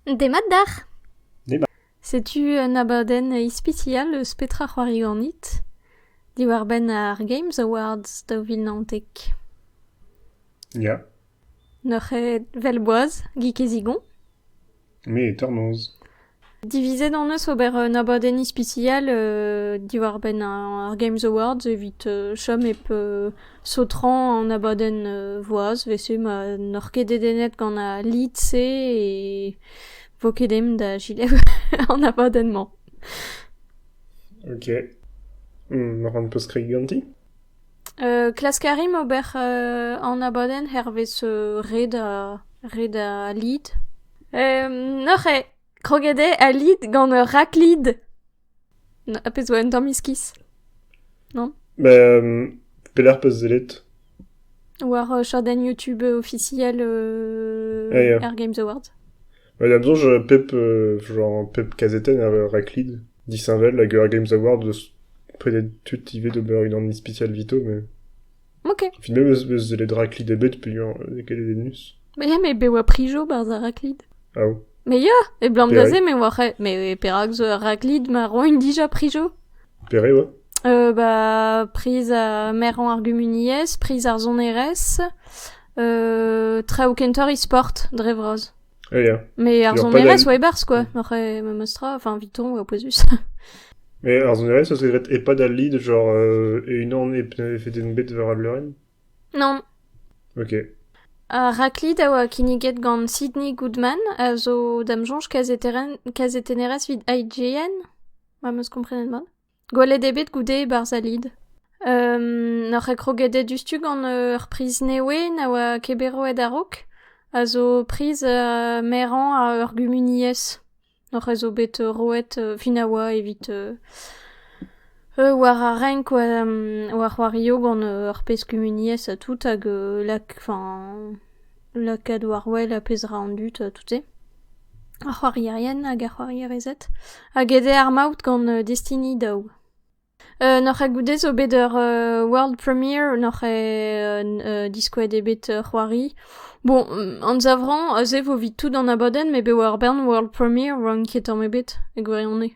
Demat d'ac'h. Demat. Setu un abadenn ispisial eus petra c'hoari ganit diwar-benn ar Games Awards daou vil naontek. Ya. Neuc'het 'vel boaz, gig e zigon. Me e tornoz. Divizet hon eus ober un abadenn ispisial diwar-benn ar Games Awards evit chom hep Zo tra an abadenn voaz 'vese ma n'oc'h ket dedennet gant al lid-se e vo ket aimp da selaou an abadenn-mañ. Ok. Ma ran peus kregiñ ganti? klask a rimp ober an abadenn hervez red red al lid. Neuze kroget eo al lid gant ur raklid. A pezh 'zo un tamm iskis, non Bah pelec'h 'peus sellet? War chadenn YouTube ofisiel Ya ya. Air Games Awards. Ouais da'm soñj pep genre pep kazetenn a raclid disheñvel hag Air Games Awards deus prenet tud ivez d'ober unan ispisial evito mais... Ok. Final eus eus sellet raklid ebet peogwir n'eo ket dedennus. Ma ya, me be oa prijo barzh ar raklid. Ah, Mais ya, e blam da Pere? se me oa re... Mais perak zo ur raklid ma roin dija prijo? pere oa? Euh, bah, priz a merañ ar gumuniezh, priz ar sonerezh, euh, traoù kentoc'h e-sport, dre vras. Ah, yeah. Mais ar Genre, pas zonerez oa e-barzh, quoi. Après, memes tra, enfin, Viton, oa pouezus. Mais ar zonerez, ça se grette EHPAD al lead, genre, euh, et une an epfeden bet war al leurenn Non. Ok. Ar raklid a oa kinniget gant Sidney Goodman, a zo dam soñj kazetennerez vid IGN, ma meus komprenet mat. Gwelet eo bet goude e-barzh Alid. N'oc'h ket kroget diouzhtu gant ur priz newe na oa ket bet roet a-raok, a zo priz merañ a ur gumuniezh. N'oc'h eus zo bet roet fin a oa evit war ar renk war c'hoario gant ur pezh kumuniezh ha tout hag lak, enfin, lakaat war wel ar pezh ra an dud ha tout-se. Ar c'hoarierien hag ar c'hoarierezed a gede ar maout gant destini daou. N'oc'h ket goude zo bet ur world premiere n'oc'h ket diskouez eo bet c'hoari. Bon, anzavrañ aze vo 'vit tout an abadenn met bet war bern world premiere 'oant ket tamm ebet e gwirionez.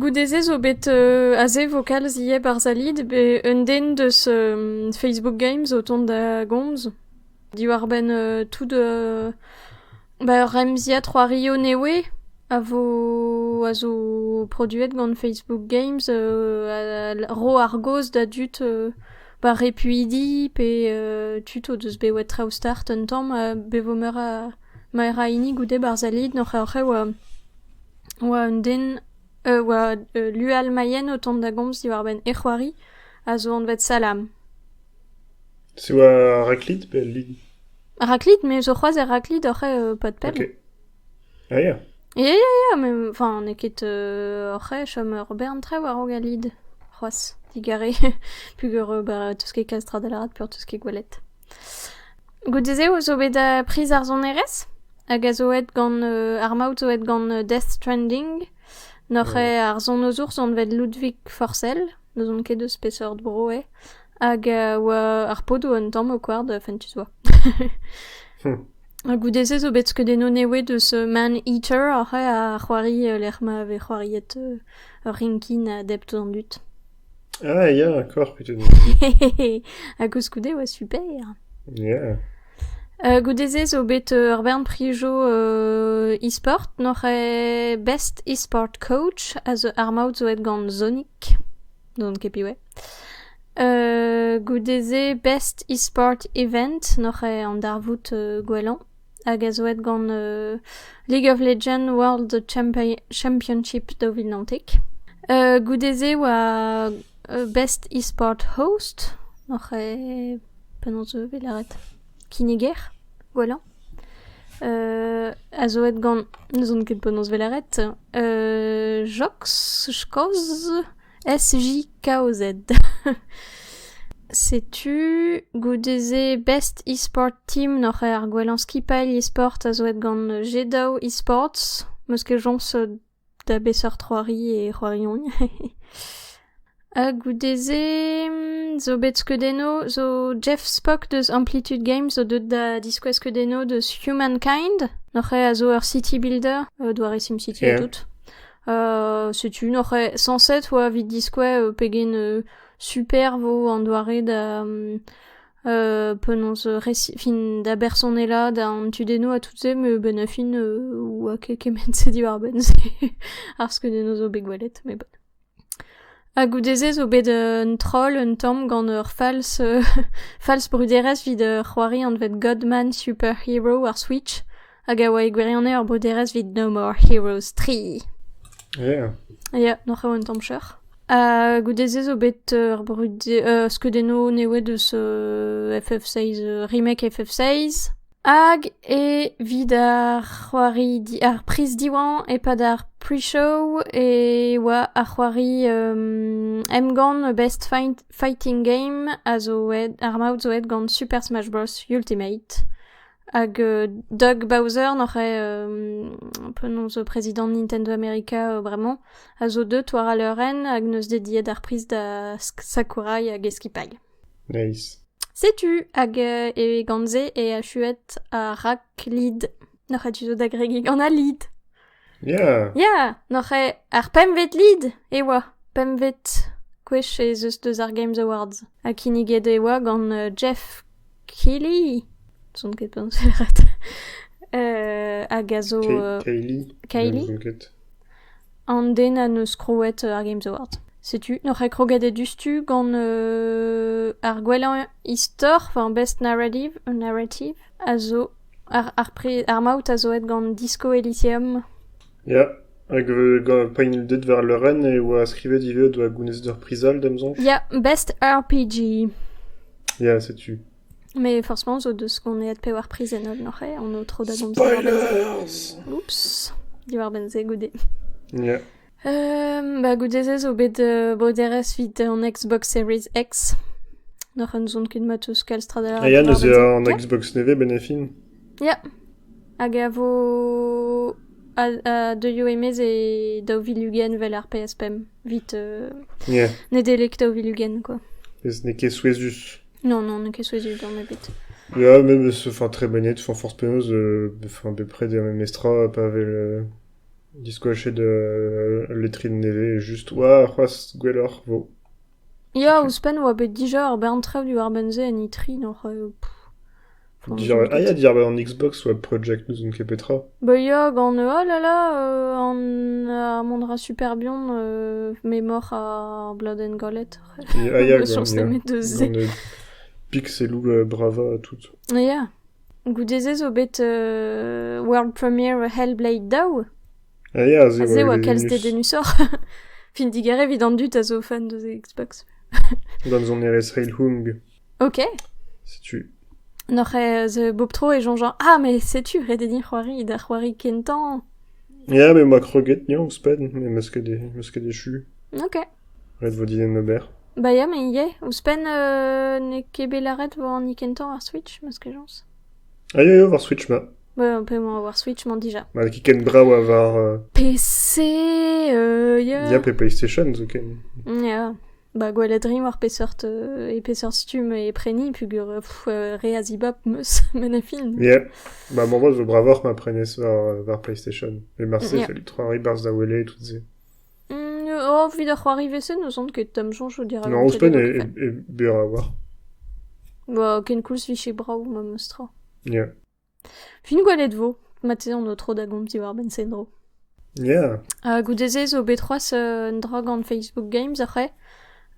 Goude-se zo bet aze vokal ziaes 'barzh Zalid, un den deus Facebook Games o tont da gomz diwar-benn tout ba ur remziad c'hoario newe a vo a zo produet gant Facebook Games ro ar gaoz da dud ba repuidi pe tud o deus bet o traoù start un tamm ha bet vo meur a hini goude 'barzh Zalid, n'hor c'hraou a. oa un den, oa ul lualmailhenn o tont da gomz diwar-benn e c'hoari a zo anvet Salam. Se oa Raclite pe al Lid? Raclite, me zo c'hoazh er Raclite oc'h eo pas de peine. Ok. Ah ya. Ya, ya, ya, mais enfin, n'eo ket euh, oc'h chom ur bern traoù a-raok al lid, c'hoazh, digare, pugur euh, bah, tout ce qui est castrade à la rate, pur tout ce qui est goélette. Goude-se e zo bet priz ar sonerezh hag a zo aet gant ar maout zo aet gant Death Stranding. Noc'h eo ar sonozour anvet Ludwig Forsell, n'ouzon ket eus peseurt bro eo hag a oa ar podoù un tamm o koard fentus oa. Ha goude-se zo bet skeudennoù nevez deus Man-Eater oc'h eo ar c'hoari lec'h ma vez c'hoariet ur rinkin a dep tamm an dud. Ah ya, encore peteouzh. ha koulskoude e oa super. Ya. Uh, goude-se zo bet uh, ur bern prijoù uh, e-sport. Noc'h eo Best E-Sport Coach a zo ar maout zo aet gant Sonic. N'on ket piv eo. Uh, goude-se Best E-Sport Event. Noc'h eo an darvoud uh, gwellañ. Hag a zo aet gant League of Legends World Championship daou vil naontek. goude-se e oa Best Esport Host, oc'h eo penaos e vez lâret kinniger gwellañ, a zo aet gant, n'ouzon ket penaos e vez lâret Jox, Skoz. SJ-kaozed. Setu goude-se Best E-sport Team oc'h ar gwellañ skipailh e-sport a zo aet gant G-daou E-sports. 'Meus ket soñs da beseurt c'hoari e c'hoariont. Ha goude-se zo bet skeudennoù zo Jeff Spock deus Amplitude Games zo deuet da diskouez skeudennoù deus Humankind. Oc'h a zo ur city builder, doare SimCity ha tout. setu n'oc'h sañset oa evit diskouez pegen superb vo an doare da penaos fin da bersonelañ d'an tudennoù ha tout-se met benn ar fin oa ket kement-se diwar-benn-se ar skeudennoù zo bet gwelet met bon. Ha goude-se zo bet un troll un tamm gant ur fals fals bruderezh evit c'hoari anvet Godman Superhero ar Switch hag a oa e gwirionez ur broderezh evit No More Heroes 3. Yeah. Ya, n'oc'h eo un tamm cheuc'h. Ha goude-se zo bet euh, ur brudi- euh, skeudennoù newet eus euh, FF6, euh, remake FF6. Hag evit ar c'hoari, di- ar priz Diwan e-pad ar pre-show e oa ar c'hoari um, emgann Best Fight- Fighting Game a zo aet, ar maout zo aet gant Super Smash Bros. Ultimate. Hag Doug Bowser n'oc'h penaos prezidant Nintendo America bremañ a zo deut war al leurenn hag neus dediet ar priz da Sakurai hag e skipailh. Nice. Setu hag e gant-se e achuet ar rakklid. Noc'h a tu zo da gregiñ gant al lid. Ya! Ya, n'oc'h ket ar pempvet lid e oa. Pempvet gwech ez eus deus ar Games Awards. Ha kinniget e oa gant euh, Jeff Keighley. Zon ket penselet. Euh, hag a zo... euh, Kay- Kylie? Ne ouzon ket. an den a neus krouet euh, ar Games Awards. Setu, n'oc'h ket kroget e dustu gant euh, ar gwellañ istor, enfin best narrative, narrative, a zo Ar maout a zo aet gant Disco Elysium. Ya, hag gant pennilded war leurenn e oa skrivet ivez o doa gounezet ur priz all d'am soñj. Ya, Best RPG. Ya, setu. Mais forcément zo deus qu'on est pevar priz en holl noc'h on o tro da gomz diwar-benn se. Spoilers! Oups, diwar-benn se goude. Ya. Ba goude-se zo bet boderezh 'vit an Xbox Series X. N'oc'h anzon ket ma 'teus kalz tra da lâret. Ha Yann eus an Xbox nevez benefin? Ya, hag a vo a deuio e-maez e daou vil ugent 'vel ar PS5 vit Nedeleg daou vil ugent quoi. N'eo ket souezhus. Non, non, n'eo ket souezhus tamm ebet. Ya, memes, enfin, très bonnet, enfin, force penaos, enfin, bepred er memestra, pa 'vel... Diskoachet ul letrin nevez just warc'hoazh gwelloc'h 'vo. Ya, ouzhpenn 'oa bet dija ur bern traoù diwar-benn-se en E3 oc'h... Dija... Ah ya, diàr-benn an Xbox oa Project n'ouzon ket petra. Bah ya, gant oh là là an ar mont 'ra super bihan memor ar bladenn Galette. Ah ya, gant pixelloù brava ha tout. Ya. Goude-se zo bet world premiere Hellblade daou. Ah ya, se a oa kalz dedennusoc'h. Fin digar evit an dud a zo fan deus Xbox. Gant sonerezh Reilhung. Ok. Setu. Noc'h ez Bob Tro e soñjañ Ah, mais setu ret eo c'hoari da c'hoari kentañ. Ya, mais ma kroget, ya, ouzhpenn. Me meus ket echu. Ok. Ret vo din ober. Ba ya me ivez. Ouzhpenn n'eo ket bet lâret vo hani kentañ war Switch, m'eus kejañs. Ah ya ya, war Switch ma. Ba p'emañ war Switch 'mañ dija. Ma n'eo ket ken brav ha war... euh, PC, euh, ya. Ya pe PlayStation zoken. Ya. Ba gwelet rin war peseurt euh, e peseurt stumm e preni pugur euh, pff, euh, re a zibab 'meus met ne film. Yeah. Bah maman zo bravoc'h ma prenez war, euh, war PlayStation. Et Marseille, Yeah. ça lui trois ribarzes da wele et tout se. O, evit ar c'hoari vese n'ouzon ket am soñjo dirak an tele gopr-fenn. Non, ouzhpenn eo berr a-walc'h. Ba, ken koulz vije brav memes tra. Ya. Fin gwelet 'vo. Marteze on o tro da gomz diwar-benn Senro. Ya. Ha goude-se zo bet c'hoazh un dra gant Facebook Games ar c'hae.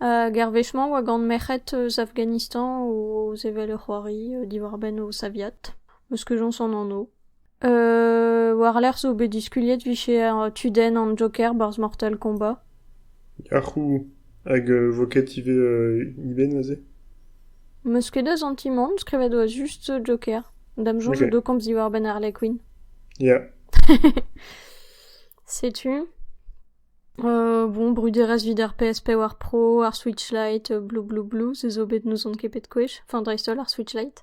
Hag ar wech-mañ 'oa gant merc'hed eus Afghanistan o sevel ur c'hoari diwar-benn o saviad. Eus kejañs an anv. War-lerc'h zo bet diskuliet 'vije tudenn an Joker 'barzh Mortal Kombat. Ah c'houh! Hag vo ket ivez Iben aze? 'Meus ket da santimant, skrivet 'oa just Joker. Da'm soñj o do komz diwar-benn Harley Quinn. Ya. Setu. Bon, bruderezh 'vit ar PS4 Pro, ar Switch Lite, blou blou blou, se zo bet n'ouzon ket pet gwech. Enfin dreist-holl ar Switch Lite.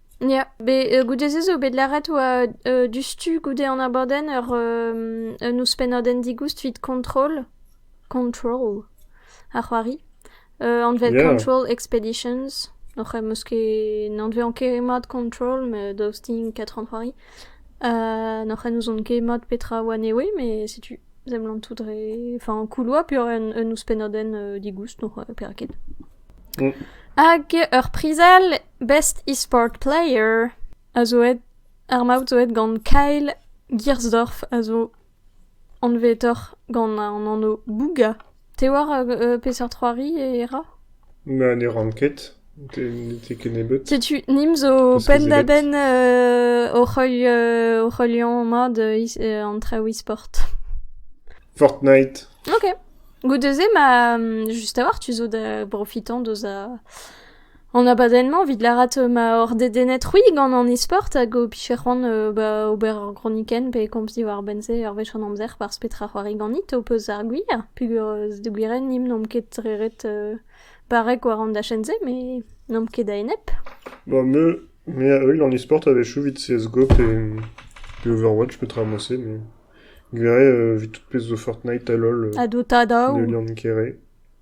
Ya, bet goude-se zo bet lâret 'oa diouzhtu goude an abadenn ur un ouzhpennadenn digoust 'vit Control Control ar c'hoari anvet Yeah. Control Expeditions oc'h em eus ket n'anveont ket mat Control met daoust din ket an c'hoari n'oc'h en ouzon ket mat petra a oa anezho met setu seblant tout dre enfin kouloù peoc'h un un ouzhpennadenn digoust n'oc'h perak ket. Mm. Hag ur prizell Best e-sport player a zo aet, ar maout zo aet gant Kyle Giersdorf a zo anvetoc'h gant an anv Bouga. Te oar peseurt c'hoari e ra? Na, ne ran ket. Ne te ket nebeut. Setu, nimp zo penn-da-benn hoc'h heuliañ mat an traoù e-sport. Fortnite. Ok. Goude-se, ma, just a-walc'h, tu zo da brofitañ deus a An abadenn-mañ, evit lâret ma oc'h dedennet-c'hwi gant an e-sport hag ho pije c'hoant ba ober ur gronikenn pe komz diwar-benn-se ur wech an amzer barzh petra c'hoari ganit, ho peus ar gwir peogwir da gwirienn nimp n'omp ket re ret barrek war an dachenn-se met n'omp ket a-enep. Ba me, me a-euil an e-sport a-wechoù evit CSGO pe pe Overwatch petra emañ se met gwiriañ evit tout pezh zo Fortnite hall Ha Dota daou. ne liran ket re.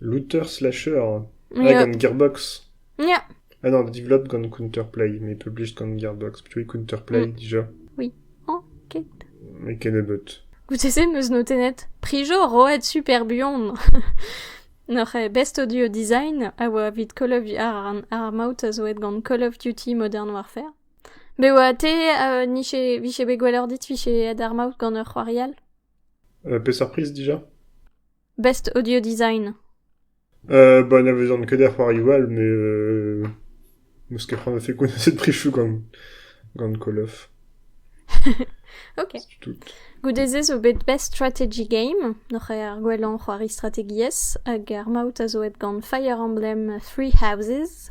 Router slasher ha gant Gearbox. Ya. Ah non, developed gant Counterplay, mais published gant Gearbox. Plutôt Counterplay déjà. Ok. Et Kenobot. Goude-se, n'eus note net. Prijo roet super buan. Nor eo best audio design a oa evit Call of Duty ar, ar maout a zo aet gant Call of Duty Modern Warfare. Be oa te uh, niche, vije bet gwelloc'h dit vije aet ar maout gant ur c'hoarial? Euh, peseurt priz déjà Best Audio Design. Euh, bah, n'avez-en que des c'hoarioù all, mais euh, m'eus ket c'hoant da fekon cette trichou gant, gant Call of. Ok. Tout. Goude-se zo bet Best Strategy Game, noc'h eo ar gwellañ c'hoari strategiezh, hag ar maout a zo aet gant Fire Emblem Three Houses.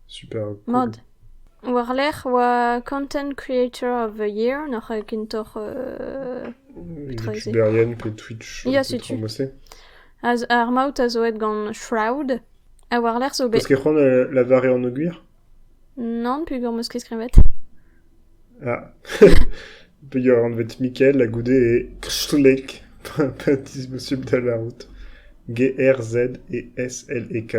Mat. War-lerc'h 'oa Content Creator of the Year, nac'h eo kentoc'h petra ez eo? Youtuberien pe Twitch Ya, setu. Ar maout a zo aet gant Shroud, ha war-lerc'h zo bet... Peus ket c'hoant lavare anogwir? Nann, peogwir 'm eus ket skrivet. Ya, peogwir e anvet Mikel ha goude e Krstlek, p'en-deus posubl da lârout, G-R-Z-E-S-L-E-K.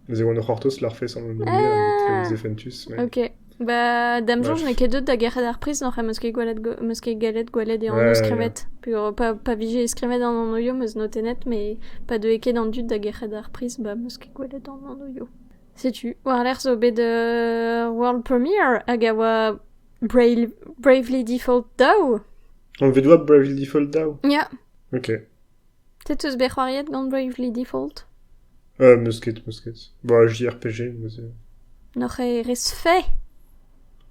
Neuze e oan o c'hortoz larfezh an anv-se etre ouzh Efentus. mais- Ok. Ba, da'm soñj Ouais. n'eo ket deut da gerc'hat ar priz n'oc'h m'eus ket gallet go- m'eus ket gallet gwelet e anv Ouais, yeah. skrivet. Peogwir pa, pa vije skrivet an anv-yo m'eus notennet, mais pa deue ket an dud da gerc'hat ar priz, bah, m'eus ket gwelet an anv-yo. Setu, war-lerc'h zo bet uh, world premiere hag a oa Brave, Bravely Default daou. Anvet oa Bravely Default daou? Ya. Ok. Te teus bet c'hoariet gant Bravely Default? Euh, meus ket, meus ket. Bon, JRPG, meus... N'oc'h ket res fait?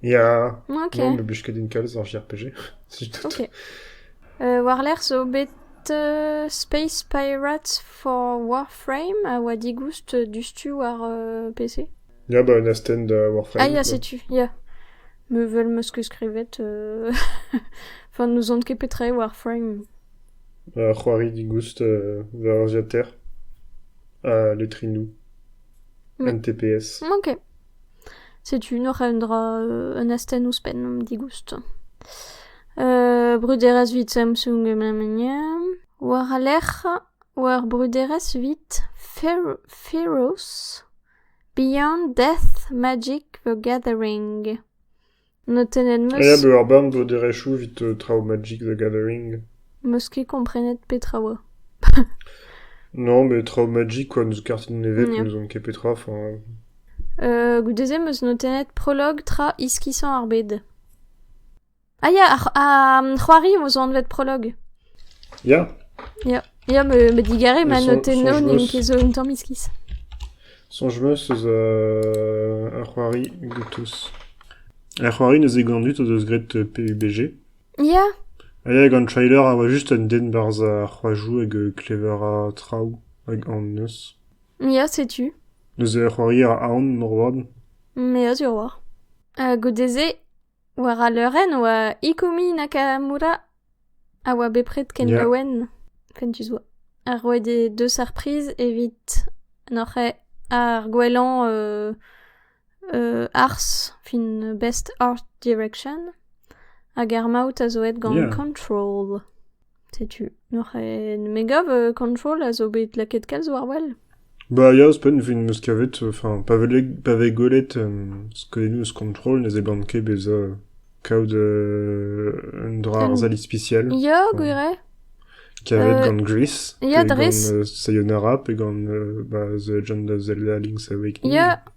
Ya, non, me blij ket din kalz ar JRPG, setu tout. Euh, Warlerc'h zo bet euh, Space Pirates for Warframe a oa digoust dustu war euh, PC. Ya, bah, une asten de Warframe. Ah, ya, setu, ya. Me veulent me ce que skrivet. euh... Enfin, nous ont ket petre Warframe. Euh, c'hoari digoust euh, war Aziater. À Letrinou. Mais... NTPS. Ok. Setu neuze un dra un astenn ouzhpenn digoust. bruderezh 'vit Samsung memenia. War al lec'h war bruderezh 'vit Feroz, Beyond Death Magic the Gathering. Notennet 'm eus... Aes eo ar barn bout erechoù evit traoù Magic the Gathering. 'meus ket komprenet petra 'oa. Non, mais traoù Magic quoi, n'eus kartenn nevez, Yeah. n'ouzon ket petra. Enfin, Euh, goude-se 'meus notennet prolog tra iskisañ ar bed. Ah ya, ar, ar c'hoari 'vo zo anvet prolog. ya, Ya, me, me digare, ma notennoù n'int ket zo un tamm iskis. Soñj-meus eus euh, ar c'hoari Gutus. Ar c'hoari neuze gant dud o deus graet euh, PUBG. Ya. Ha ya, gant trailer a oa just un den barzh ar c'hoajoù hag euh, klever a traoù hag an neus. Ya, setu. Neuze ur c'hoari a aon, norvad. Me a sur war. Ha goude-se, War al leurenn 'oa Ikumi Nakamura a oa bepred ken Ya. laouen, fentus 'oa. Ha roet eo deus ar priz evit n'oc'h ket ar gwellañ euh, euh, arz, fin best art direction. Hag ar maout a zo aet gant Yeah. Control. Setu neuze me gav Control a zo bet lakaet kalz war-wel. Bah ya, ouzhpenn 'vit 'm eus kavet, enfin pa vez pa vez gwelet skeudennoù eus Control ne seblant ket bezañ kaout un dra arzel ispisial. Ya, gwir eo. Kavet gant Gris, pe gant Sayonara, pe gant bah The Legend of Zelda Link's Awakening. Ya.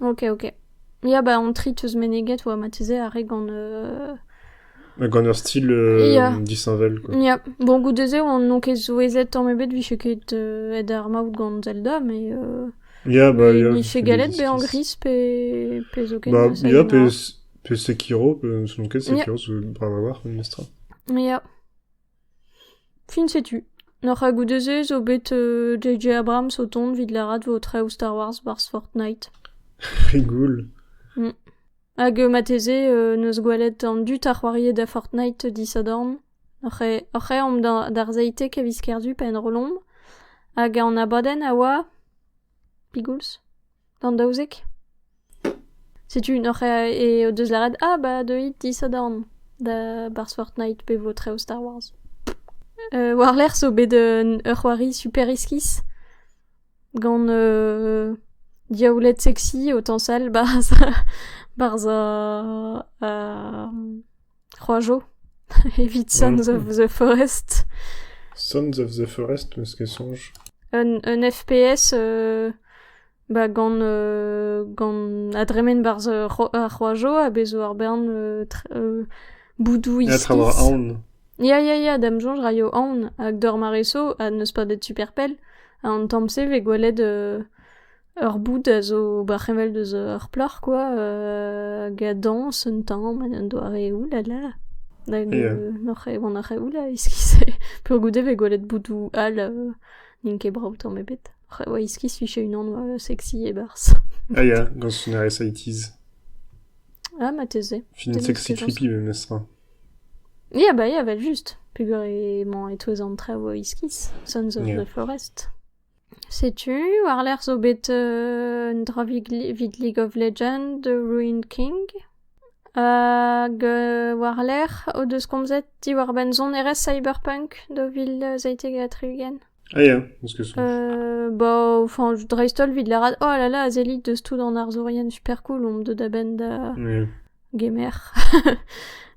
Ok, ok. Ya, bah on trie teus meneget oa marteze ar re gant... euh, Gant ur stil euh, Ya. disheñvel, quoi. Ya, bon goude-se oan n'on ket souezhet tamm ebet 'vije ket euh, aet ar maout gant Zelda mais euh, Ya, bah, ya, 'vije c'est galet bezañ legislatif. gris pe, pe zoken Bah, ça ya, pe, ignore. pe Sekiro, pe- selon quel Yeah. Sekiro, parce que rien à voir, mais Mistra. Ya. Fin setu. Oc'h ha goude-se zo bet J.J. Abrams o tont 'vit lâret 'vo traoù Star Wars 'barzh Fortnite. Re gul. Hag marteze neus gwelet an dud a c'hoarie da Fortnite disadorn. Oc'h e- oc'h eomp d'ar zeitek a viz Kerzu pa enrollomp. Hag an abadenn a oa... Pigoulz? D'an daouzek. Setu unnoc'h eo deus lâret ah ba deuit disadorn da barzh Fortnite pe vo traoù Star Wars. War-lerc'h zo bet ur c'hoari super iskis gant diaouled sexy, o tañsal barzh barzh ar C'hoaz 'zo, evit Sons of the Forest. Sons of the Forest, meus ket soñj. Un, un FPS euh, ba gant euh, gant a dremen 'barzh euh, C'ho- ar C'hoajo ha bez 'zo ar bern euh, tr- euh, boudou Ya, tra war iskis. aon. Ya, ya, ya, da'm soñj raio aon. Hag d'ur mareso, ha n'eus pas bet super pell. Ha an tamm-se 'vez gwelet euh, Ur boud a zo ba c'heñvel deus ur plac'h kwa hag a dañs un tamm en un doareoù la la nag n'oc'h ket c'hoant ar c'hevoù la iskis-se peogwir e vez gwelet boudoù all n'int ket brav tamm ebet oc'h oa iskis 'vije unan sexy e-barzh. Ah ya, gant Sonares Eighties. Ah marteze. Film sexy creepy memestra. Ya bah ya 'vel just peogwir emañ e-touez an traoù iskis Sons of the Forest. Setu war-lerc'h zo bet un dra evit League of Legends The Ruined King hag war-lerc'h o deus komzet diwar-benn sonerezh cyberpunk daou vil seitek ha tri-ugent. Ah ya, ez keus soñj. Ba, enfin, dreist-holl evit lâret oh là là, Zellic deus tout d'an arzourien super cool, omp deuet a-benn da gemer.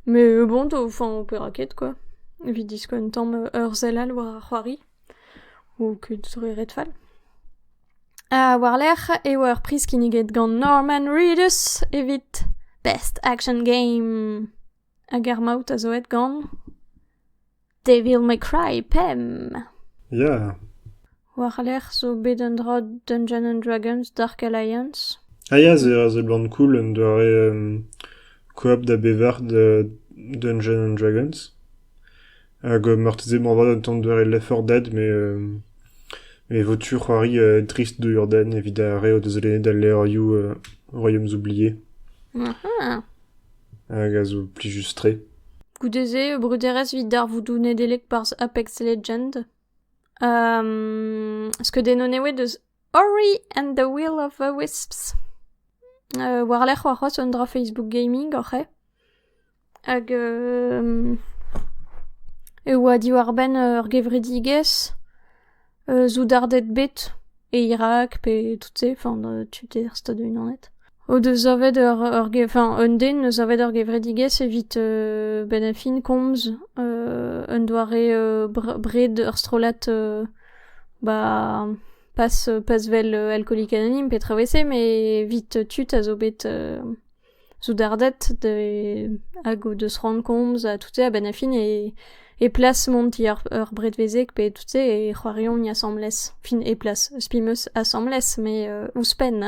Mais bon, enfin, on pera ket quoi. Evit diskouez un tamm ur sell all war ar c'hoari. Kuit zo ret fall. War-lerc'h e oa ur priz kinniget gant Norman Reedus evit Best Action Game. Hag ar maout a zo aet gant Devil May Cry pemp. Ya. War-lerc'h zo bet un dra Dungeons and Dragons Dark Alliance. Ah ya, se a seblant cool, un doare euh, coop da bevar de Dungeons and Dragons. Hag marteze moarvat un tamm doare leforded met e vo tu c'hoari drist d'o urdenn evit ar re o deus lennet al levrioù Royaumes oubliés hag a zo plijus-tre. Goude-se eo bruderezh evit darvoudoù Nedeleg barzh Apex Legend. skeudennoù eo deus Ori and the Will of the Wisps. war-lerc'h war c'hoazh un dra Facebook gaming oc'h eo. Hag e oa diwar-benn ur gevredigezh soudarded bet e Irak pe tout-se, enfin tu d'er Stadoù-Unanet, o deus savet ur ur ge- enfin un den 'neus savet ur gevredigezh evit benn ar fin komz un doare br- bred ur strollad ba pas pas 'vel alkolique anonyme petra 'wez-se, met 'vit tud a zo bet Soudarded hag o deus c'hoant komz ha tout-se a-benn ar fin e plas mont ti ur bredvezeg pe tout-se e c'hoariont asambles fin e plas eus penaos asambles met ouzhpenn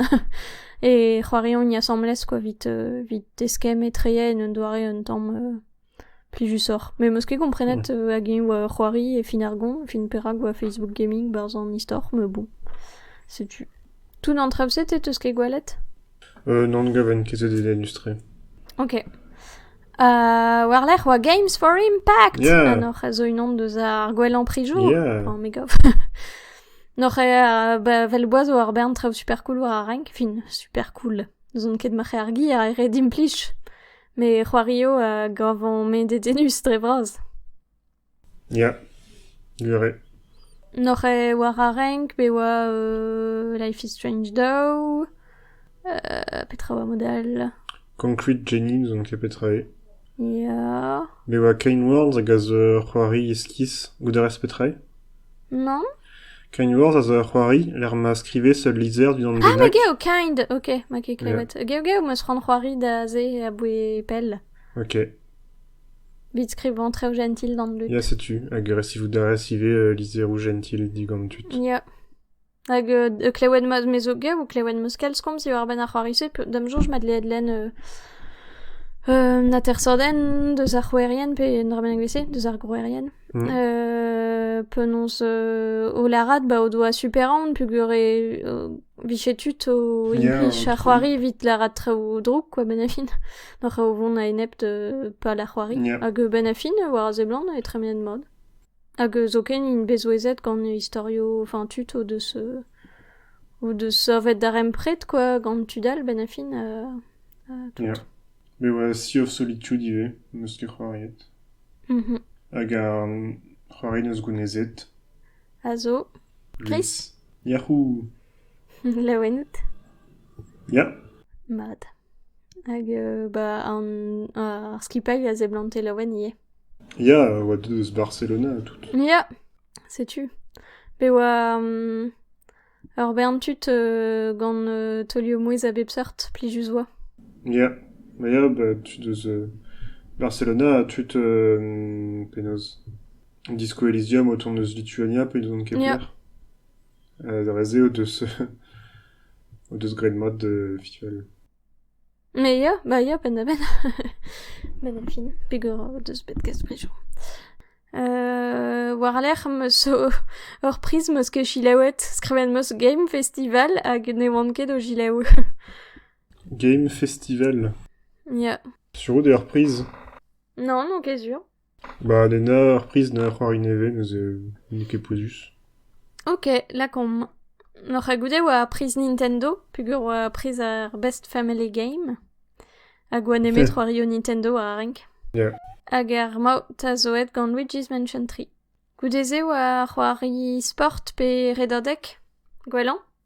e c'hoariont asambles kwa 'vit eskemm etre en un doare un tamm. Plijusoc'h. Me 'm eus ket komprenet euh, hag eñ oa ur c'hoari e fin ar goñ, fin perak oa Facebook Gaming 'barzh an istor, mais bon. Setu. Tout an traoù-se, te 'teus ket gwelet? Euh, non, ne gaven ket e dedenus-tre. Ok. Euh, war-lerc'h oa Games for Impact! Yeah! Ha n'oc'h a zo unan deus ar gwellañ prijour? Yeah! Oh, me gav. n'oc'h eo ba, vel boaz war bern traoù super cool war ar renk? Fin, super cool. N'ouzon ket ma c'he ar gi a ret implij. Met c'hoari eo a gavan-me dedennus dre vras. Ya, gwir eo. N'oc'h ket war ar renk pe war euh, Life is Strange daou? Euh, petra oa mod all? Concrete Genie, n'ouzon ket petra eo. Ya. Be oa Kane Worlds hag a zo ur c'hoari iskis. Goudarez petra eo? Nann ? Kainours a zo ur c'hoari lec'h ma skrivez ul lizher dindan Ah, bennak. geo, kind. Ok, ma ket klevet. Geo, geo, ma eus c'hoant c'hoari da se aboue pell. Ok. Vit skrivañ Trev Jentil gant Luc. Ya, setu. Hag resivout a rez ivez euh, lizheroù jentil digant tud. Ya. Hag euh, klevet ma me zo gav ou klevet meus kalz komz diwar-benn ar c'hoari-se, pe- d'am soñj mat dleet lenn euh, euh, un atersadenn deus ar c'houerien, pe un dra bennak evel-se, deus ar grouerien. Mm. Euh, penaos euh, o lârat ba o doa super-aon peogwir e euh, vije tud o Yeah, implij ar cool. c'hoari evit lârat traoù drouk, quoi, benn a fin. Doc'h o vont a-enep de pal ar c'hoari. Yep. Hag euh, benn a fin, war a seblant, e tremenet mat. Hag zoken int bet souezhet gant istorioù enfin tud o deus o deus savet darempred quoi gant tud all benn-ha-fin tout. Ya, me oa Sea of Solitude ivez, n'eus ket c'hoariet. Mhm. Hag ar c'hoari neus gounezet. A zo. Chris? Yahoo! Laouen out? Ya. Mat. Hag euh, bah an ar skipailh a seblante laouen ivez. Ya, a oa deuet eus Barcelona ha tout. Ya, setu. Be oa um, ur bern tud euh, gant euh, taolioù-mouezh a bep seurt, plijus oa. Ya, ma ya, ba, tud eus euh, Barcelona ha tud euh, penaos Disco Elysium o tont eus Lituania pe n'ouzon ket Ya. ker. Euh, da vase o deus o deus graet mat de visual. Me ya, bah ya penn-da-benn benn ar fin pegwir o deus bet kastrijoù. war-lerc'h 'm eus ur priz 'm eus ket selaouet, skrivet 'm eus Game Festival hag ne oan ket o selaou. Game Festival? Ya. Sur out eo ur priz? Non, n'on ket sur. Ba lenner ur priz na ur c'hoari nevez neuze n'eo ket pouezus. Ok, lakaomp. Oc'h goude e oa ar priz Nintendo, peogwir oa priz ar Best Family Game. Hag oa nemet c'hoario Nintendo a renk. Yeah. Hag ar maout a zo aet gant Luigi's Mansion 3. Goude-se oa c'hoari sport pe redadeg. Gwellañ?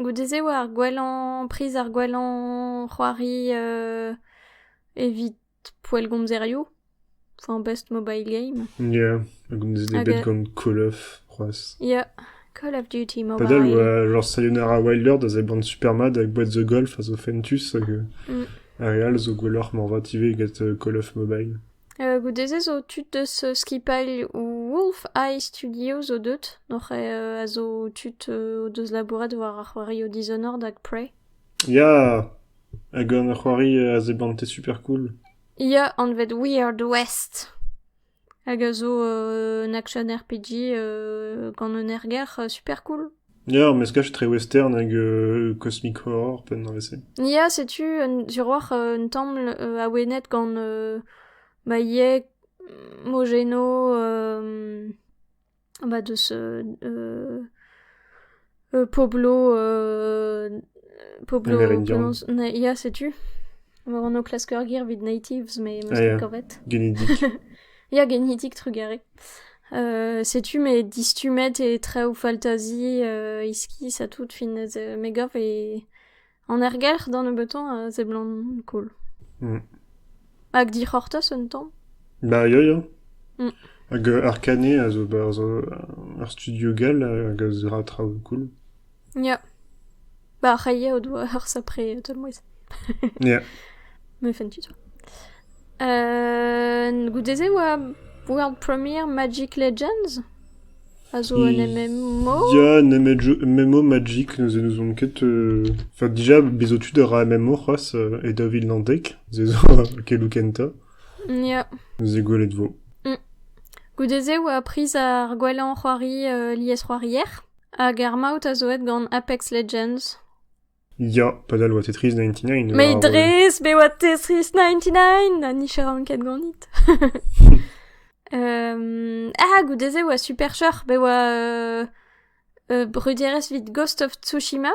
Goude-se e oa ar gwellañ priz ar gwellañ c'hoari evit poellgomzerioù, enfin best mobile game. Ya, a gomzin eo bet Hag- gant Call of c'hoazh. Ya, Call of Duty mobile. Padel oa genre Sayonara Wilder da zeban Supermad hag Boîte the Golf a zo fentus hag euh, Mm. ar re all zo gwelloc'h moarvat ivez get euh, Call of Mobile. Goude-se zo tud deus skipailh Wolf Eye Studio zo deut, hoc'h a zo tud o deus labouret war ar c'hoarioù Dishonored hag Prey. Ya! Hag gant ur c'hoari a sebante super cool. Ya, anvet Weird West. Hag a zo un action RPG gant un erger super cool. Ya, meskaj trewestern hag euh, Cosmic Horror, penn an vez-se. Ya, setu un tiroir euh, un templ euh, awenet gant euh, Maillet, Mogeno, euh, bah, de ce euh, euh, Poblo, euh, Poblo Amerindian. Blanc- Na- Ya, setu. War an o klasker gir vid natives, mais Ah, meus ket yeah. kavet. Genidik. Ya, genidik, trugarez. Euh, setu me distummet e traoù faltazi euh, iskis ha tout fin ez euh, me gav e an ergelc'h d'an nebeuton a seblant cool. Mm. Hag dic'hortoz un tamm? Bah ya ya. Mm. Hag euh, Arcané a zo ur studio gall hag a zo traoù cool. Ya. Ba ar c'hailha o doa ur sapre taol-mouezh. Ya. Me fentu toi. Euh, goude-se e oa World Premiere Magic Legends. A zo un MMO. Ya, un MMO, MMO Magic, nous nous on ket... euh, Enfin, déjà, bezo tud a ra MMO c'hoazh, euh, e daou vil naontek, se zo kelou kentañ, Ya. nous eo gwelet vo. Goude-se e oa priz ar gwellañ c'hoari euh, lies-c'hoarier. Hag ar maout a zo aet gant Apex Legends. Ya, padal oa Tetris 99. Mais war, euh, dres, be oa Tetris 99! Ha nicheran ket ganit. um, ah, goude-se oa super cheuc'h, be oa uh, uh, brudierez vit Ghost of Tsushima.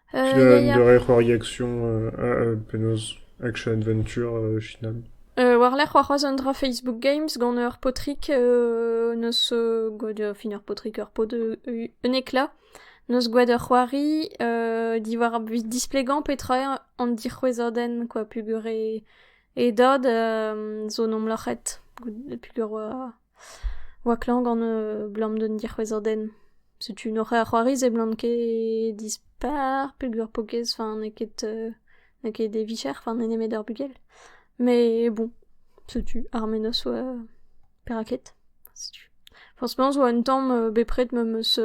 Un eur c'hoariasion penaos action adventure final. War-lerc'h c'hoazh un dra Facebook Games gant ur paotrig neus gwelet ur fin ur paotrig ur paotr un eklat neus gwelet ur c'hoari diwar displegañ petra eo an dic'hwezhadenn kwa peogwir e dad zo 'n em loc'het peogwir oa... 'oa klañv gant abalamour d'un dic'hwezhadenn. Setu un horreur c'hoari se 'blan ket dispar peogwir pokez, enfin n'eo ket n'eo ket e vicher, enfin n'eo nemet ur bugel. Mais bon, setu ar menoz 'oa perak ket, setu. Forzhplas 'oa un tamm bepred ma 'meus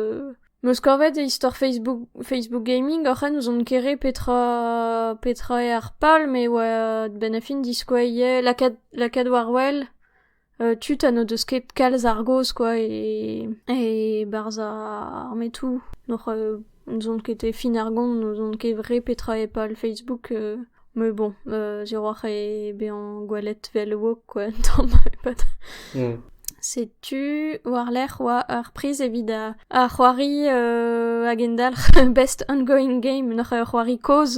meus kavet istor Facebook Facebook gaming oc'h en ouzon ket re petra petra eo ar pal, met 'oa a-benn ar fin diskouez lakaat lakaat war wel. tud ha n'o deus ket kalz ar gaoz kwa e-barzh ar metoù n'oc'h n'ouzon ket e fin ar gont n'ouzon ket re petra e pal Facebook me bon ziwrac'h eo bezañ gwelet 'vel woke kwa un tamm e-pad setu war-lerc'h oa ur priz evit ar c'hoari a gendalc'h best ongoing game n'oc'h ur c'hoari kozh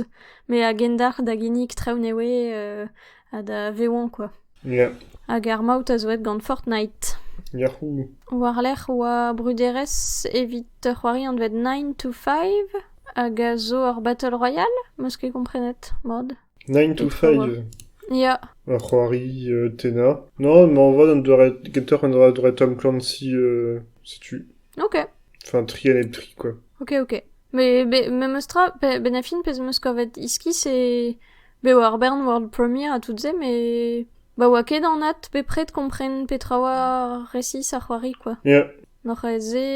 met a gendalc'h da ginnig traoù nevez ha da vevañ kwa. Hag ar maout a zo aet gant Fortnite. Yahoo! War-lerc'h 'oa bruderezh evit ur c'hoari anvet Nine to Five hag a zo ur battle royale, 'meus ket komprenet mat. Nine to Five? Ya. Ur c'hoari tennañ. Non, mañ vat an doare gentoc'h an doare Tom Clancy setu. Ok. Enfin, tri a nep tri, quoi. Ok, ok. Mais, mais meus tra, ben-, Benafin, pezh 'meus kavet iskis e Bev ar bern world premiere ha tout se, met ba oa ket anat bepred kompren petra oa resis ar c'hoari kwa. Ya. N'oc'h aet se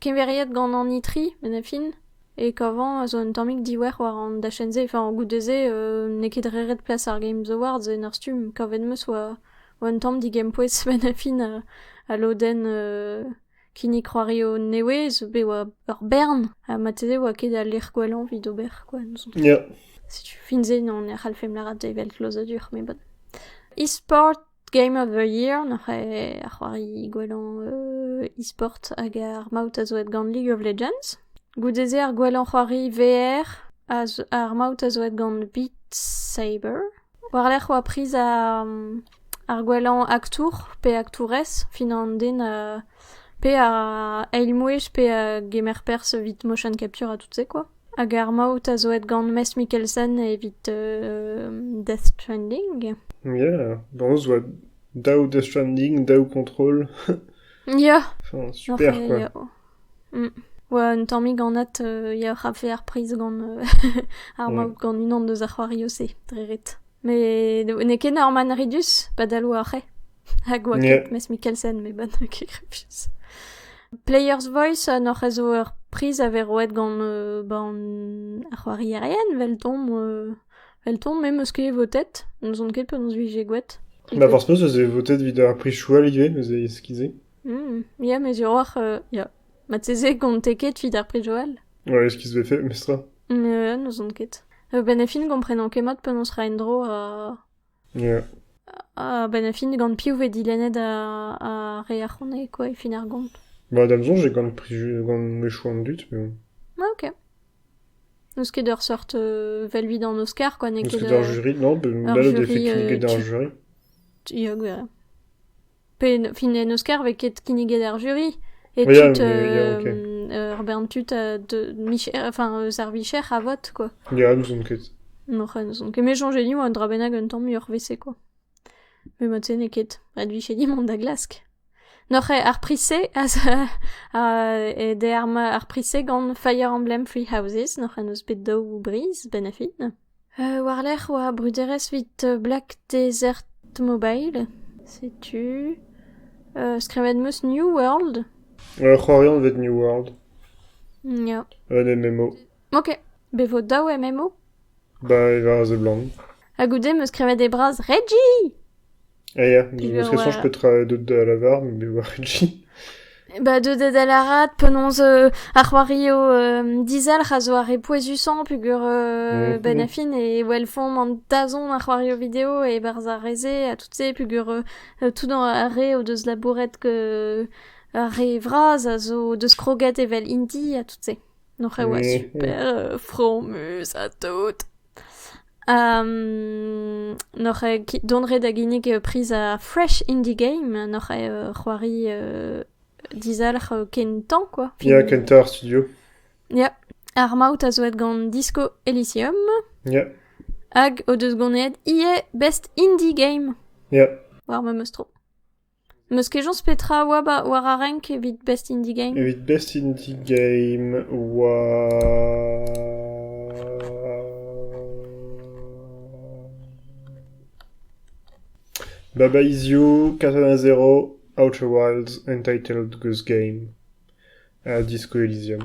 keñveriet gant an itri, met a fin. E kavañ a zo un tammig diouer war an dachenn-se. Enfin, goude-se euh, n'eo ket re ret plas ar Games Awards en ur stumm. Kavet 'm eus oa oa un tamm digempoez benn a fin a, a lodenn euh, Kinnig c'hoario neouez be oa ur bern ha marteze oa ket al lec'h gwellañ evit ober kwa n'ouzon ket. Ya. Setu fin se n'on e c'hallfemp lâret evel klozadur met bon. E-sport Game of the Year n'oc'h eo ar c'hoari gwellañ e-sport hag ar maout a zo aet gant League of Legends. Goude-se ar gwellañ c'hoari VR a zo- ar maout a zo aet gant Beat Saber. War-lerc'h 'oa priz ar gwellañ aktour pe aktourez fin an den pe ar eilmouezh pe a gemer perzh evit motion capture ha tout-se quoi. Hag ar maout a zo aet gant Maes Mikkelsen evit Death Stranding. Ya, boñs 'oa daou Death Stranding, daou kontrol. Ya! Super quoi! Oa un tammig anat yac'h a-fe ar priz gant ar mab gant unan eus ar c'hoarioù-se dre ret. Met n'eo ket Norman Reedus padal oa c'hwec'h hag oa ket mes Mikkelsen met ba n'eo ket grevus. Player's Voice n'hoc'h eus zo ur priz a vez roet gant ba an ar c'hoarierien 'veldomp veldomp me 'm eus ket votet, n'ouzon ket penaos 'vije gouet. Ma forzh penaos ez eo votet evit ar prizoù all ivez, eus e eskis-se. Ya, met hiroc'h, ya. Marteze gonte ket 'vit ar Prix Joël. Ouais, ce qui se fait fait, mestr. Ya, n'ouzon ket. Ben a fin gomprenan ket mat penaos ra en-dro ha... Yeah. Ha ben a fin gant piv vez dilennet ar ar re ar c'honne quoi e fin ar gont. Bah da'm soñj eo gant prix Ju- gant mechou an dud, mais bon. Ah, ok. N'eus ket ur seurt euh, vel 'vit an Oscar quoi, n'eo Est-ce ket que d'ar euh, jury? Non, bah, ur là, le fait jury, qu'il y ait euh, d'ar tu- jury. ya, gwer- Pe fin en Oscar 'vez ket kinniget ar jury e tud, ur bern tud enfin eus ar vicher a vot quoi. Ya, n'ouzon ket. N'oc'h n'ouzon ket. Me soñje div un dra bennak un tamm muioc'h 'vese quoi. Me mod-se n'eo ket advichet mont da glask. N'oc'h ar priz-se d'er ar priz-se gant Fire Emblem Free Houses n'oc'h eus bet daou briz benn a fin? War-lerc'h 'oa bruderezh 'vit Black Desert Mobile. Setu skrivet 'meus New World. Ur c'hoarian 'vit New World. Ya. Un MMO. Ok. Bet 'vo daou MMO. Ba, e ra a seblant. Ha goude 'meus skrivet e braz Reggie! Ah ya, ne serait soñj petra deut da lavar, me me oar ket. Bah deuet da lârat penaos euh, ar c'hoarioù euh, dizalc'h a zo ar re pouezusañ pugur euh, Ouais, ben a fin e welfomp an dazont ar c'hoarioù video e-barzh ar re-se ha tout-se pugur euh, tout ar re o deus labouret que ar re vras a zo deus kroget evel Indy ha tout-se. Donc e oa ouais, ouais. super euh, fromus ha tout. N'oc'h ket dont ret da ginnig priz ar Fresh Indie Game. N'oc'h ket c'hoari dizalc'h kentañ kwa. Ya, kentañ ar studio. Ya, ar maout a zo aet gant Disco Elysium. Ya. Hag o deus ganet ivez Best Indie Game. Ya. War memes tro. N'eus ket soñj petra a oa war ar renk evit Best Indie Game ? Evit Best Indie Game oa... Baba Easy-U, Katana Zero, Outer Wilds, Entitled Goose Game ha Disco Elysium.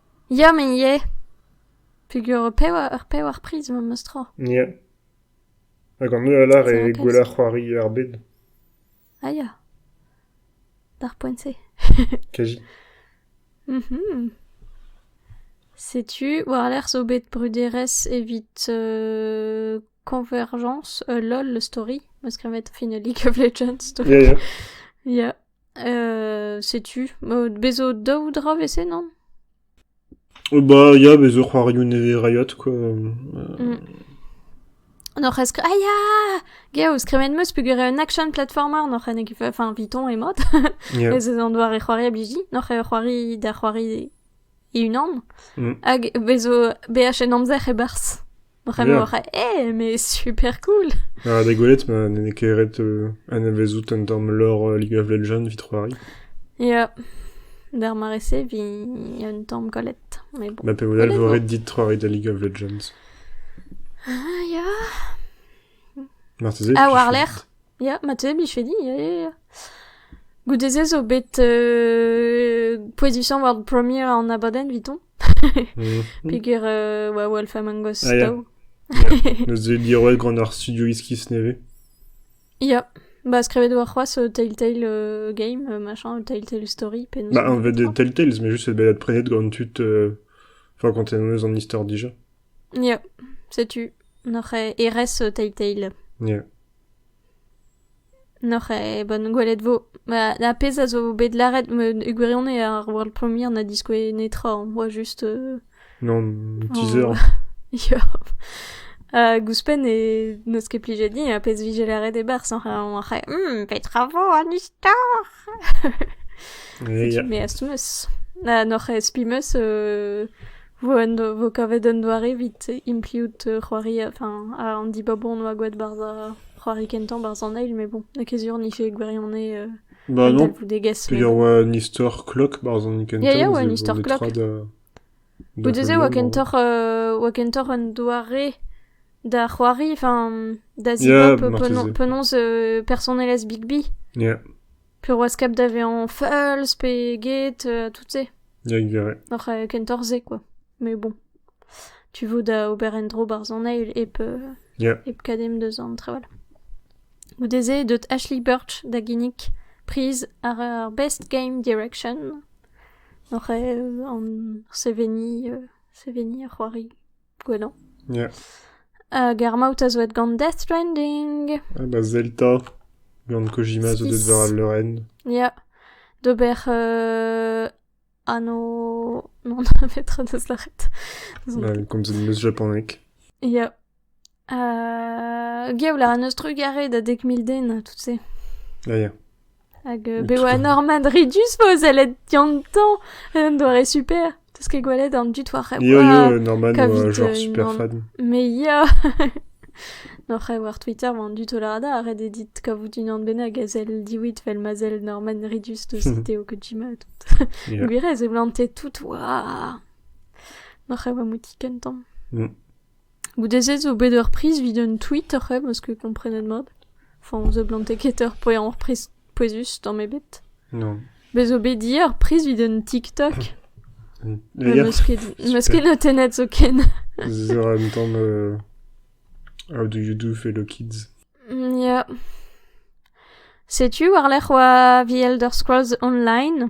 Ya, me ivez, peger ur pevar, pevar priz eo memes tra. Ya. Hag an holl alar e gwella c'hoari ar bed. Ah ya. D'ar poent-se. Kaji. Mhm. Setu, war-lerc'h zo bet bruderezh evit euh, Convergence, euh, LOL, le story. Ma skrivet finally Legions. Ya, ya. Ya. setu, bez zo daou dra evese, non? Ba ya, bez zo c'hoarioù nevez rayot, quoi. Mm. N'oc'h eus... Ah ya! Geo, skremet meus pegure un action platformer n'oc'h en enfin, viton e mod. Yeah. ez eus an doare c'hoari a bliji. N'oc'h e c'hoari da c'hoari e unan. Mm. Hag bez zo BH en amzer e-barzh. Bremañ a ra eh mais super cool! Ha d'e gwelet ma n'en eo ket ret euh, anavezout un tamm lore euh, League of Legends evit c'hoari. Ya, d'ar mare-se eviñ un tamm kollet, mais bon. Ma pe mod all vo ret dit c'hoari da League of Legends. Ah ya! Marteze. Ah, tu war fais- lerc'h? Ya, ma teu 'blije di, ya, ya, ya. Goude-se zo bet euh, poetisañ war premier an abadenn evitoñ, Mhm. peger euh, oa Wolf Among Us Ah, ya. tav. Neus deuet diroet gant ar studio iskis nevez. Ya, ba skrivet oa c'hoazh euh, Telltale euh, Game, euh, machin, euh, Telltale Story, penaos... Bah, anvet de Telltales, mais juste c'est balade prénette gant tud... euh, Enfin, quand t'es nommeuse en histoire déjà. Ya, setu, noc'h euh, erez euh, Telltale. Yeah. N'oc'h ket bet gwelet 'vo. Ba ar pezh a zo bet lâret e gwirionez ar World Premiere na diskouez netra on boa just Non, un teaser. Ya. Hag ouzhpenn e n'eus ket plijet din ar pezh 'vije lâret e-barzh oc'h oc'h c'houlenn hum petra 'vo an istor? Setu me astum eus. Ha n'oc'h spi 'm eus 'Vo en do- 'vo kavet un doare evit imppliout c'hoari enfin an dibab on oa gwelet barzh ar c'hoari kentañ barzh an eil mais bon n'eo ket sur 'nifie gwirionez euh, Bah un non, talvoudegezh mais peger bon. oa un istor klock barzh an kentañ. Ya ya oa un ze- istor on est klock. trois da- da Goude-se oa heul kentoc'h euh, oa kentoc'h un doare da c'hoari enfin da zibab Yeah, penaos marteze. penaos euh, personelezh Bigby. Yeah. Piroaz kap da vezañ fals pe get, tout-se. Ya, gwir eo. Oc'h kentorzh-se kwa. Mais bon, tu vo da ober en-dro barzhoneg hep Ya. hep kadem deus an traoù all. Goude-se e deut Ashley Birch da ginnig priz ar ar Best Game Direction. Oc'h an seveniñ seveniñ ar c'hoari. Gwellañ. Yeah. Hag ar maout a zo aet gant Death Stranding. Ah bah Zelda gant Kojima zo deut war al leurenn. Ya. D'ober euh, anno... Non, met tra deus lâret. Mal, komzet 'm eus japaneg. Ya. Gaout a ra n'eus trugarez da dek mil den, tout-se. Ya, ya. Hag euh, bet oa Norman Ridus vo sellet diantañ, un doare super. T'eus ket gwelet an dud war rev... Yo, yo, Norman oa genre super fan. Mais ya! Nor rev war Twitter vo an dud o lada a ret edit kavout unan bennak a zell diwit fel ma zell Norman Ridus deus Teo Kojima tout. Gwirez e blante tout, oa! Nor rev a mouti kentan. Mm. Goude-se zo bet ur priz evit un tweet oc'h eo, meus ket komprenet mat. Enfin, on seblante ket ur poellañ priz pouezus tamm ebet. Non. Bez zo bet dir ur priz evit un TikTok. Les gars, Meus ket, meus ket notennet zoken. this is an tamm uh, How do you do fellow kids? Mm, Ya. Setu war-lerc'h oa The Elder Scrolls Online.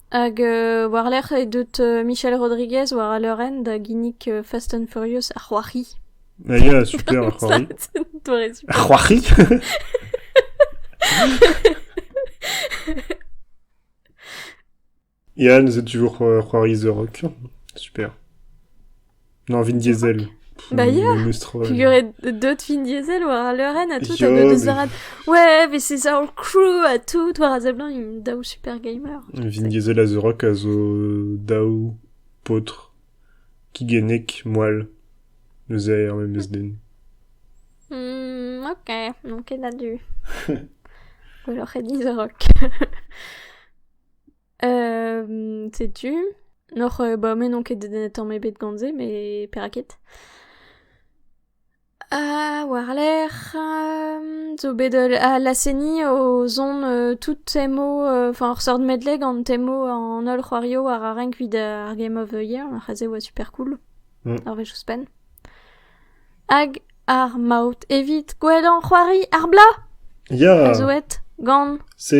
Hag war-lerc'h eo deut Michel Rodriguez war al leurenn da ginnig Fast and Furious ar c'hoari. Ya, super ar c'hoari. Doare super. Ar c'hoari? Yann, c'est toujours euh, c'hoari The Rock. Super. N'en vin diesel. Bah ya, Memes tra. Puguret deut fin diesel war al leurenn ha tout, ha me deus lâret ouais, mais c'est ça en crew ha tout, war a seblant, il daou super gamer. Vin diesel a The Rock a zo daou paotr kigennek moal eus aer memes den. Hmm, ok, donc ket a du. Gwelloc'h e di The Rock. setu n'oc'h ba me n'on ket tamm ebet gant se met perak ket war-lerc'h zo bet la seni o zont tout temo enfin ur seurt medley gant temo an holl c'hoarioù war ar renk evit ar Game of the Year c'aze e oa super cool ur wech ouzhpenn hag ar maout evit gwellañ c'hoari ar bla a zo aet gant se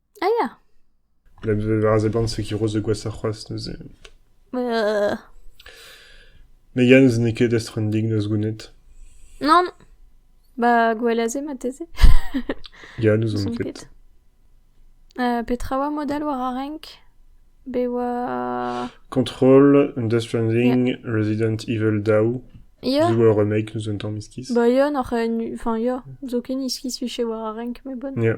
Ah ya ! War a seblant se kiroz da gwashañ c'hoazh neuze. Me ya neuze n'eo ket estren dik da zgounit. Nann ! Ba gwell a-se marteze. Ya, n'ouzon ket. petra oa model war ar renk ? Be oa... Control, Death Stranding, Resident Evil Daou. Ya. Zo ur remake, n'ouzon tamm iskis. Ba ya, n'oc'h... Enfin ya, zo ken iskis 'vije war ar renk, me bonn. Ya.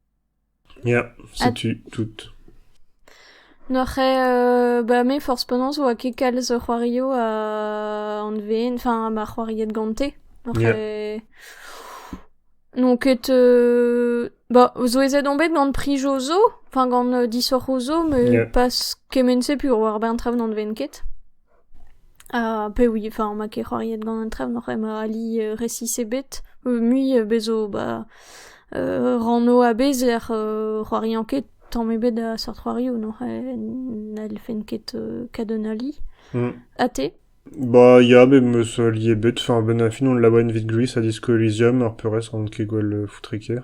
Ya, setu tout. N'oc'h ket... ba me forzh penaos 'oa ket kalz c'hoarioù ha anveen, enfin ma c'hoariet gante. N'oc'h ket... N'on ket... ba souezhet on bet gant prijoù zo, enfin gant disoc'hoù zo, me pas kement-se puh war-benn traoù n'anveen ket. Ha pewi, enfin ma ket c'hoariet gant an trev n'oc'h ema ali resis ebet. Mui bezo ba ranno abezer c'hoariañ ket tamm ebet a seurt c'hoarioù n'oc'h n'hellfen ket kadenn ali. Ha te? Ba ya met m'eus ali ebet. Enfin a-benn ar fin hon labourent evit Greece ha Disco Elysium ar peurrest n'on ket gwall foutre ker.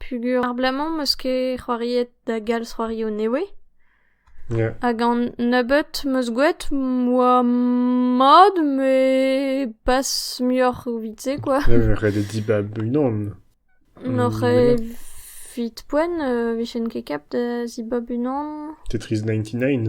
Peogwir ar bloaz-mañ 'm eus ket c'hoariet da galz c'hoarioù nevez. Ya. Hag an nebeut 'm eus gwelet 'oa mat met pas muioc'h evit se quoi. ret eo dibab unan. N'oc'h evit poent 'vijen ket kap da zibab unan. Tetris ninety nine.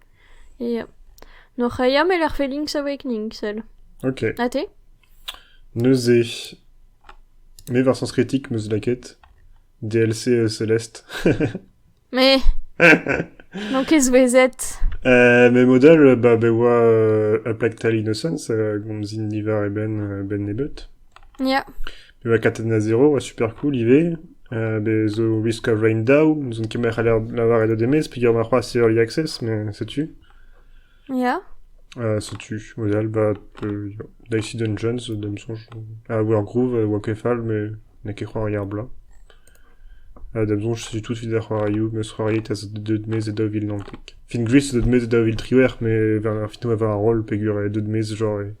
Ya. N'hoc'h aia met ar felinks a voe kninkl. Ok. Ha te? Neuze, me war Sens Critique, meus lakaet. DLC euh, Céleste. Mais... N'on ket souezhet. Euh, mais modal, bah, be oa euh, a plaque tal innocence, a gomzin niver e ben, euh, ben nebot. Ya. Bezañ katet na zero oa super cool ivez. Euh, bez zo Risk of Rain Dow. N'ouzon ket ma c'haller lavaret o demez peger ma c'hoazh Early Access, mais setu. Ya. Euh, setu. Wel, bah, euh, Dicey Dungeons, da me soñj. Ah, Wergroove, euh, oa ket fall, mais n'en ket c'hoari ar bla. Euh, da me soñj, setu tout evit ar c'hoarioù, meus c'hoariet az deut mez e daou vil naontek. Fin Gris zo deut mez e daou vil triwec'h, mais ar finto a war ar roll peger e deut mez genre e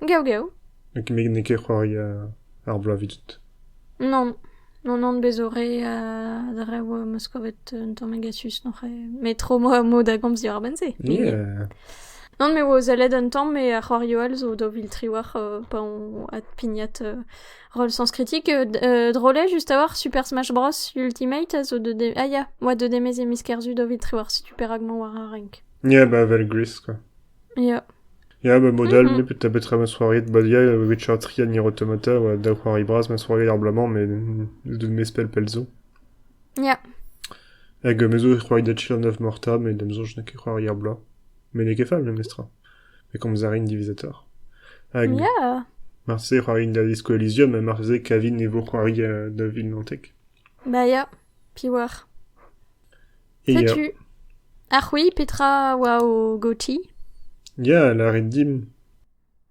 Gaou gaou. Met n'eo ket c'hoari ar bloaz evidon. Nann, non, non, bez 'zo re da rev 'm eus kavet un tamm agasus n'oc'h met tro emañ da gomz diwar benn-se. Yeah. Non, me 'oa sellet un tamm met ar c'hoarioù all zo daou vil tri war pa on adpignat roll sens critique. Drol eo just a-walc'h Super Smash Bros Ultimate a zo deuet... Ah ya, oa deuet e-maez e miz Kerzu daou vil tri war setu perak 'mañ war ar renk. Yeah, bah 'vel Gris quoi. Ya. Ya, ba mod all, ta betra ma soareet baliañ e vez chañs-tri anir automata ha daou c'hoari bras ma soareet ar bloaz-mañ met deus mes pell pell zo. Ya. Hag me zo c'hoari da chill an neuf morta met da'm soñj n'eo ket c'hoari ar bloaz. Met n'eo ket fall memes tra. Me komz a rin diwezhatoc'h. Hag Ya. marteze c'hoarin da zisko Elysium ha marteze kavin e vo c'hoari da Vinlantek. Ba ya. Piwoc'h. Setu. Ha c'hwi, petra a oa o gotiñ? Ya, lârit dimp.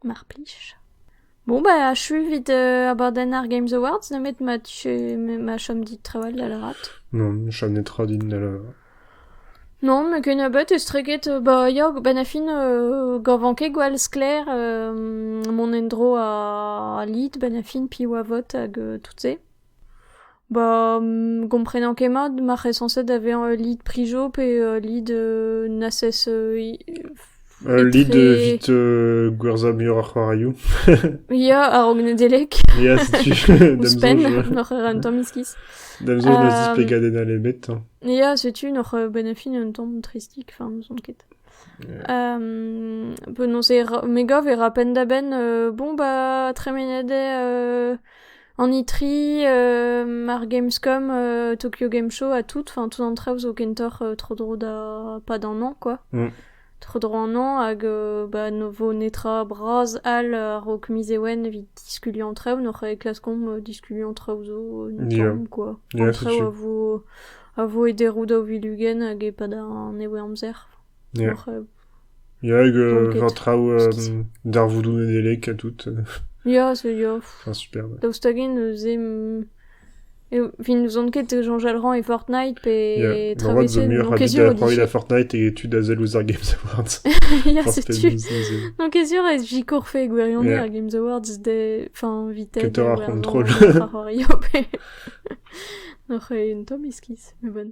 Mar plij. Bon, bah, achu evit euh, abadenn ar Games Awards, nemet ma, tu- ma chom dit trawal da lâret. Non, chom netra din da lâret. Non, met kennebeut estreget, euh, bah ya, benn a fin, euh, gav ket gwall sklaer euh, mont en-dro a Lid benn a fin, piv a vot hag euh, tout se. Ba gomprenan ket mat, ma c'hellsañset da vezañ ul lid prijo pe ul lid n'ases ul lid evit gwerzhañ muioc'h c'hoarioù. Ya, a-raok Nedeleg. Ya, setu Ouzhpenn, n'oc'h ket un tamm iskis. D'am soñj n'eus displegadenn all ebet. Ya, setu n'oc'h benn a fin un tamm tristik, enfin n'ouzon ket. Penaos e me gav e ra penn-da-benn bon ba tremenet eo An itri, ar Gamescom, Tokyo Game Show ha tout, enfin tout an traoù zo kentoc'h tro-dro da pad an hañv quoi. Tro-dro an hañv hag bah ne vo netra bras all a-raok miz Ewen evit diskuliañ an traoù, n'hoc'h klaskomp diskuliañ an traoù zo un Yeah. tamm quoi. Yeah, An c'est traoù sûr. a vo a vo e deroù daou vil ugent hag e-pad an nebeud amzer. Yeah. N'hoc'h Ya, hag war traoù darvoudoù Nedeleg ha tout. Ya, zo ya. superb. Daoust hag-en neuze vin n'ouzon ket Jean Jalran et Fortnite pe yeah. traversé no kezur d'après la Fortnite et tu da zel ouzh ar Games Awards. Ya, setu. No kezur ez jikorfe gwirionez yeah. ar Games Awards de enfin vite. Que t'auras contrôle. N'oc'h un tamm iskis, mais bon.